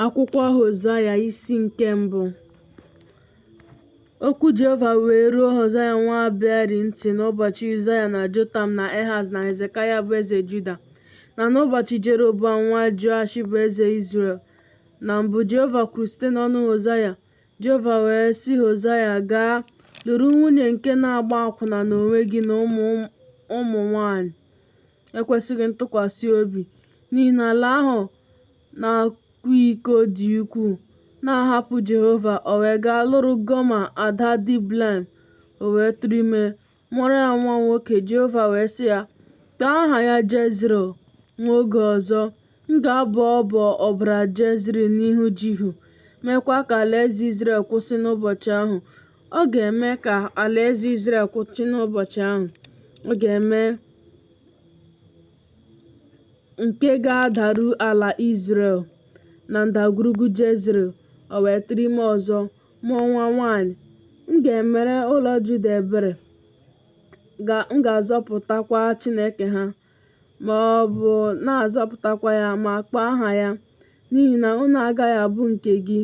Akwụkwọ Hosaya isi nke mbụ Okwu Jehova wee ruo Hosaya nwa Beeri ntị n'ụbọchị Uzaya na Jotam na Ehaz na Hezekaya bụ eze Juda na n'ụbọchị Jeroboam nwa Joash bụ eze Izrel na mbụ Jehova kwuru site n'ọnụ Hosaya Jehova wee sị Hosaya gaa lụrụ nwunye nke na-agba akwụna n'onwe gị na ụmụ nwanyị ekwesịghị ntụkwasị obi n'ihi na ala ahụ na-akwa iko dị ukwuu na-ahapụ Jehova, o wee gaa lụrụ Goma ada Diblaim, o wee tụrụ ime, mụọrọ ya nwa nwoke. Jehova wee sị ya, Kpọọ aha ya Jezril nwa oge ọzọ, M ga-abọ ọbọ ọbara Jezril n'ihu Jihu, meekwa ka alaeze Izrel kwụsị n'ụbọchị ahụ. Ọ ga-eme ka alaeze Izrel kwụsị n'ụbọchị ahụ. Ọ ga-eme nke ga-adaru ala Izrel na ndagwurugwu Jezril, o wee tụrụ ime ọzọ, mụọ nwa nwaanyị. M ga-emere ụlọ Juda ebere, m ga-azọpụtakwa Chineke ha. ma ọ bụ na-azọpụtakwa ya ma kpọọ aha ya, n'ihi na unu agaghị abụ nke gị.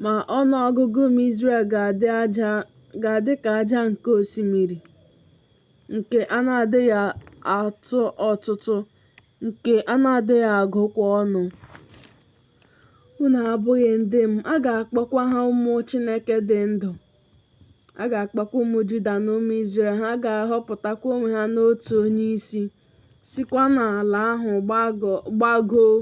Ma ọnụ ọgụgụ ụmụ Izrel ga-adị ka aja nke osimiri, nke a na-adịghị atụ ọtụtụ, nke a na-adịghị agụkwa ọnụ. Unu abụghị ndị m, a ga-akpọkwa ha ụmụ Chineke dị ndụ. A ga-akpọkwa ụmụ Juda na ụmụ Izrel, ha ga-ahọpụtakwa onwe ha n'otu onye isi, sikwa n'ala ahụ gbagoo,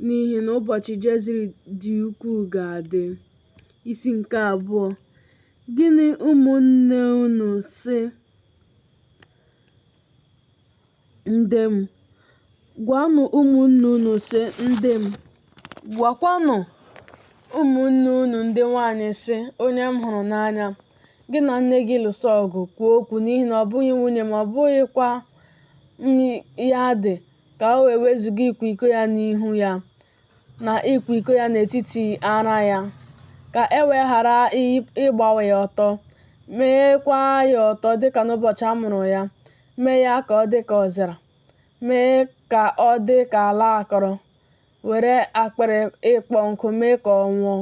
n'ihi na ụbọchị Jezril dị ukwuu ga-adị. Isi nke abụọ Gịnị ụmụnne unu sị? Ndị m, gwanụ ụmụnne unu sị, Ndị m, gwakwanụ ụmụnne unu ndị nwaanyị sị, Onye m hụrụ n'anya, gị na nne gị lụso ọgụ kwuo okwu n'ihi na ọ bụghị nwunye m ma ọ bụghịkwa ya di ka o wee wezuga ịkwa iko ya n'ihu ya. na ịkwa iko ya n'etiti ara ya, ka e wee ghara ịgbawa ya ọtọ, meekwa ya ọtọ dịka n'ụbọchị a mụrụ ya, mee ya ka ọ dị ka ọzara, mee ka ọ dị ka ala akọrọ, were akpịrị ịkpọ nkụ mee ka ọ nwụọ.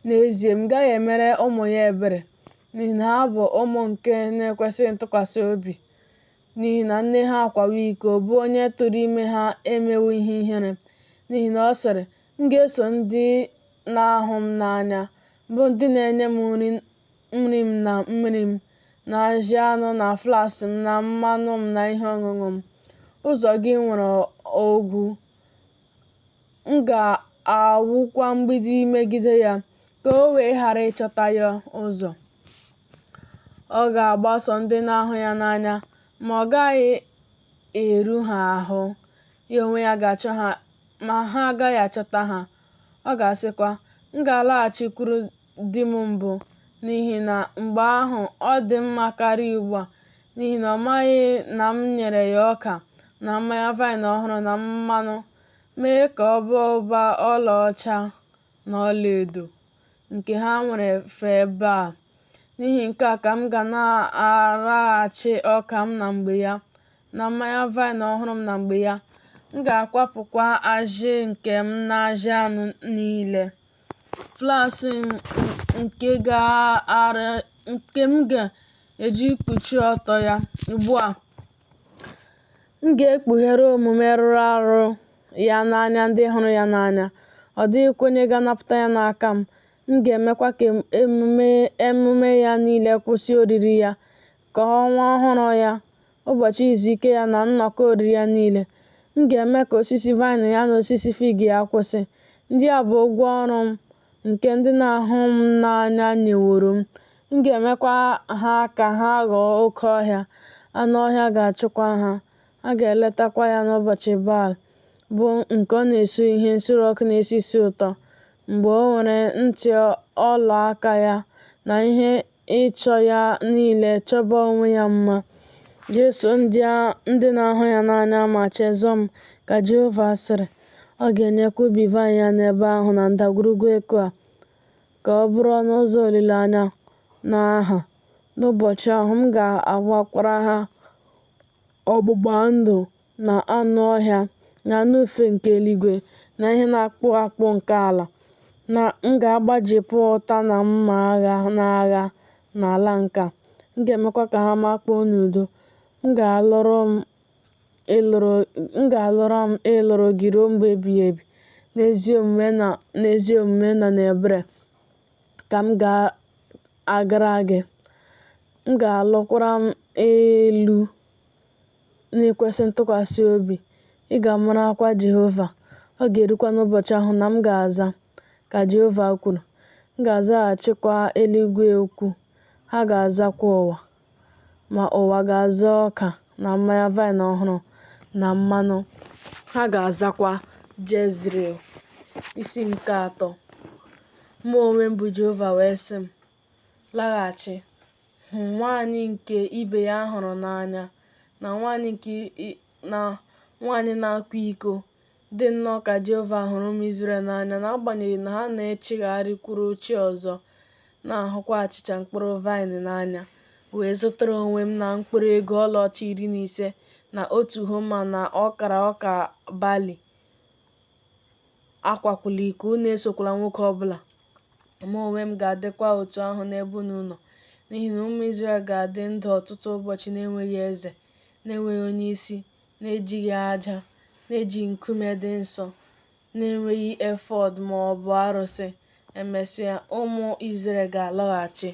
N'ezie, m gaghị emere ụmụ ya ebere, n'ihi na ha bụ ụmụ nke na-ekwesịghị ntụkwasị obi. n'ihi na nne ha akwawo iko, bụ onye tụrụ ime ha emewo ihe ihere, n'ihi na ọ sịrị, M ga-eso ndị na-ahụ m n'anya, bụ ndị na-enye m nri m na mmiri m, na ajị anụ na flas m na mmanụ m na ihe ọṅụṅụ m. Ụzọ gị nwere ogwu, M ga-awụkwa mgbidi megide ya, ka o wee ghara ịchọta ya ụzọ. Ọ ga-agbaso ndị na-ahụ ya n'anya, ma ọ gaghị eru ha ahụ. Ya onwe ya ga-achọ ha, ma ha agaghị achọta ha. Ọ ga-asịkwa, M ga-alaghachikwuru di m mbụ n'ihi na mgbe ahụ ọ dị mma karịa ugbu a n'ihi na ọ maghị na m nyere ya ọka na mmanya vaịn ọhụrụ na mmanụ mee ka ọ baa ụba ọlaọcha na ọlaedo nke ha nwere fee Baal n'ihi nke a ka m ga-anaraghachi ọka m na mgbe ya na mmanya vaịn ọhụrụ m na mgbe ya m ga-akwapụkwa ajị nke m na ajị anụ niile flaks nke gaara nke m ga-eji kpuchie ọtọ ya ugbu a m ga-ekpughere omume rụrụ arụ ya n'anya ndị hụrụ ya n'anya ọ dịghịkwa onye ga-anapụta ya n'aka m m ga-emekwa ka emume ya niile kwụsị oriri ya ka ọnwa ọhụrụ ya ụbọchị izu ike ya na nnọkọ oriri ya niile. M ga-eme ka osisi vaịn ya na osisi fig ya kwụsị. Ndị a bụ ụgwọ ọrụ m nke ndị na-ahụ m n'anya nyeworo m. M ga-emekwa ha ka ha ghọọ oke ọhịa, anụ ọhịa ga-achụkwa ha. A ga-eletakwa ya n'ụbọchị Baal, bụ nke ọ na-esu ihe nsure ọkụ na-esi isi ụtọ, mgbe o nwere ntị ọla aka ya na ihe ịchọ ya niile chọba onwe ya mma, jeso ndị na-ahụ ya n'anya ma chezọọ m, ka Jehova sịrị. Ọ ga-enyekwa ubi vaịn ya n'ebe ahụ na ndagwurugwu Ekoa ka ọ bụrụ ọnụ ụzọ olileanya na aha. N'ụbọchị ahụ, m ga-agbakwara ha ọgbụgba ndụ na anụ ọhịa na anụ ufe nke eluigwe na ihe na-akpụ akpụ nke ala, na m ga-agbajipụ ụta na mma agha na agha n'ala nke a, m ga-emekwa ka ha makpuo n'udo. M ga-alụrụ m ịlụrụ gị ruo mgbe ebighị ebi n'ezi omume na n'ebere ka m ga-agara gị m ga-alụkwara m ịlụ n'ikwesị ntụkwasị obi, ị ga-amarakwa Jehova. Ọ ga-erukwa n'ụbọchị ahụ na m ga-aza, ka Jehova kwuru. M ga-azaghachikwa eluigwe okwu, ha ga-azakwa ụwa. Ma ụwa ga-aza ọka na mmanya vaịn ọhụrụ na mmanụ, ha ga-azakwa Jezril. Isi nke atọ. Mụ onwe m bụ Jehova wee sị m. laghachi, hụ nwaanyị nke ibe ya hụrụ n'anya na nwaanyị na-akwa iko. Dị nnọọ ka Jehova hụrụ ụmụ Izrel n'anya n'agbanyeghị na ha na-echigharịkwuru chi ọzọ, na-ahụkwa achịcha mkpụrụ vaịn n'anya. Wee zụtara onwe m na mkpụrụ ego ọlaọcha iri na ise na otu homa na ọkara ọka bali Akwakwula iko, unu esokwala nwoke ọ bụla. Mụ onwe m ga-adịkwa otu ahụ n'ebe unu nọ, n'ihi na ụmụ Izrel ga-adị ndụ ọtụtụ ụbọchị na-enweghị eze, na-enweghị onye isi, na-ejighị aja, na-ejighị nkume dị nsọ, na-enweghị efọd ma ọ bụ arụsị. Emesịa, ụmụ Izrel ga-alọghachi.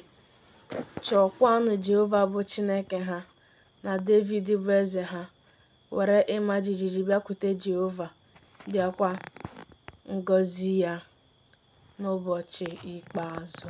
Chọọkwanụ Jehova bụ Chineke ha na Devid bụ eze ha. were ịma jijiji bịakwute Jehova, bịakwa ngọzi ya n'ụbọchị ikpeazụ.